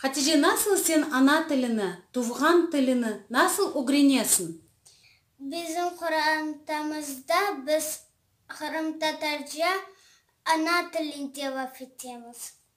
Hatice, nasıl sen ana tilini, tuvğan tilini nasıl ögrenesiñ? Bizim qorantamızda biz qırımtatarca ana tilinde laf etemiz.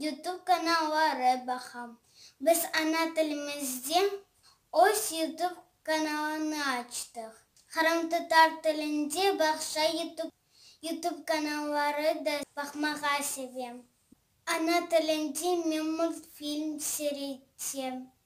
Youtube kanalları baqam. Biz ana tilimizde öz Youtube kanalını açtıq. Qırımtatar tilinde Bağça Youtube Youtube kanalları da baqmağa sevem. Ana tilimde men multfilm seyretem.